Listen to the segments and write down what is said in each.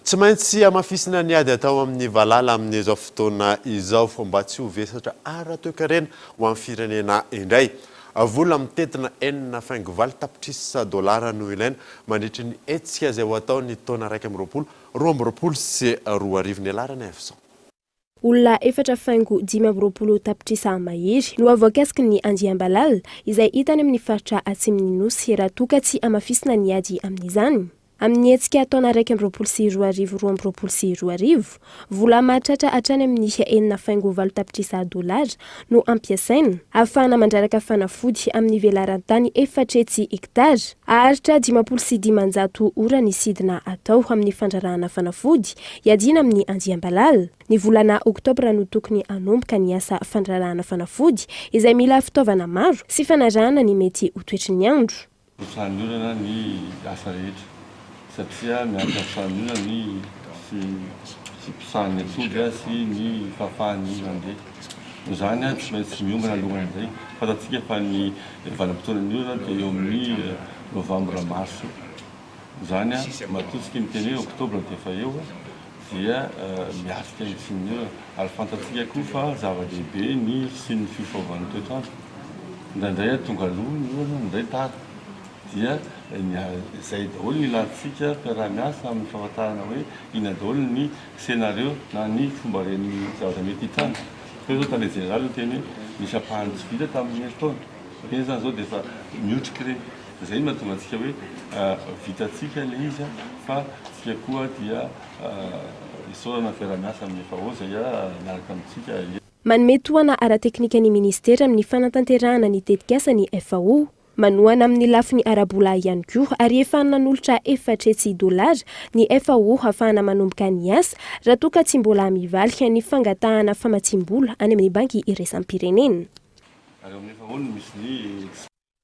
Tsy maintsy hamafisina ny ady atao amin'ny valala amin'izao fotoana izao mba tsy ho vesatra ara-toekarena ho an'ny firenena indray. Vola mitentina enina faingo valo tapitrisa dolara no ilaina mandritry ny hetsika izay ho atao ny taona iraika amby roapolo Roa amby roapolo sy roa arivo ny alarany avy izao. Olona efatra faingo dimy amby roapolo tapitrisa mahery no voakasiky ny andiam-balala izay hita any amin'ny faritra atsimon'ny Nosy raha toa ka tsy hamafisina ny ady amin'izany amin'ny hetsika taona iraika amby roapolo sy roa arivo roa amby roapolo sy roa arivo. Vola mahatratra hatrany amin'ny enina faingo valo tapitrisa dolara no ampiasaina, ahafahana mandraraka fanafody amin'ny velaran-tany efatretsy hektara. Haharitra dimampolo sy dimanjato ora ny sidina atao amin'ny fandrarahana fanafody iadiana amin'ny andiam-balala. Ny volana oktobra no tokony hanomboka ny asa fandrarahana fanafody izay mila fitaovana maro sy fanarahana ny mety ho toetry ny andro. Ny fahanolana ny asa rehetra satria miantra amin'ny fahanolana ny fiposahan'ny atody sy ny fahafahany mandeha. Noho izany, tsy maintsy miomana alohan' izay. Fantatsika fa ny vanim-potoanan'ny orana dia eo amin'ny novambra-marsa. Izany an, matoa tsy tia miteny hoe oktobra dia efa eo dia miatrika ny tsininy eo ary fantatsika koa fa zava-dehibe ny tsininy fifaovan'ny toetr'andro. Indraindray an tonga aloha ny orana, indray tara. Dia ny izay daholo no ilantsika mpiara-miasa amin'ny fahafantarana hoe inona daholo ny scenario na ny fomba ren'ny zavatra mety hitranga. Ohatra izao tale jeneraly niteny hoe misy ampahany tsy vita tamin'ny herintaona. Dikan'izany izao dia efa miotrika ireny. Izay no mahatonga antsika hoe vitantsika ilay izy fa isika koa dia isaorana fiarahamiasa amin'ny FAO izay miaraka amintsika. Manome tohana ara-teknika ny Minisitera amin'ny fanatanterahana ny tetikasa ny FAO. Manohana amin'ny lafiny ara-bola ihany koa ary efa nanolotra efatra hetsy dolara ny FAO hahafahana manomboka ny asa raha toa ka tsy mbola mivaly ny fangatahana famatsiam-bola any amin'ny Banky Iraisam-pirenena.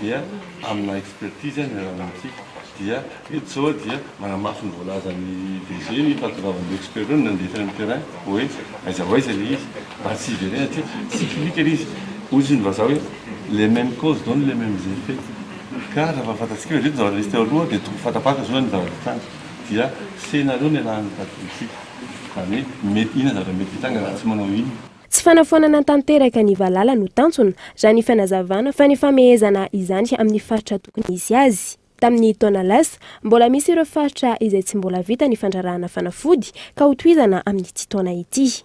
dia amina expertise ny ranomantsika dia eto zao dia manamafy ny voalazan'ny DG ny fahatongavan'ireo experts ireo nandeha tany amin'ny terrain hoe aiza ho aiza ilay izy mba tsy hiverena aty cyclique ilay izy hozy ny vazaha hoe les memes causes donnent les memes effets ka raha fahafantatsika hoe reto ny zavatra nisy teo aloha dia tokony fanta-panta izao ny zavatra hitranga dia scénario no ialahan'ny vadikely-tsika izany hoe mety inona ny zavatra mety hitranga raha tsy manao inona Tsy fanafoanana tanteraka ny valala no tanjona, raha ny fanazavana, fa ny famehezana izany amin'ny faritra tokony hisy azy. Tamin'ny taona lasa, mbola misy ireo faritra izay tsy mbola vita ny fandrarahana fanafody, ka hotohizana amin'ity taona ity.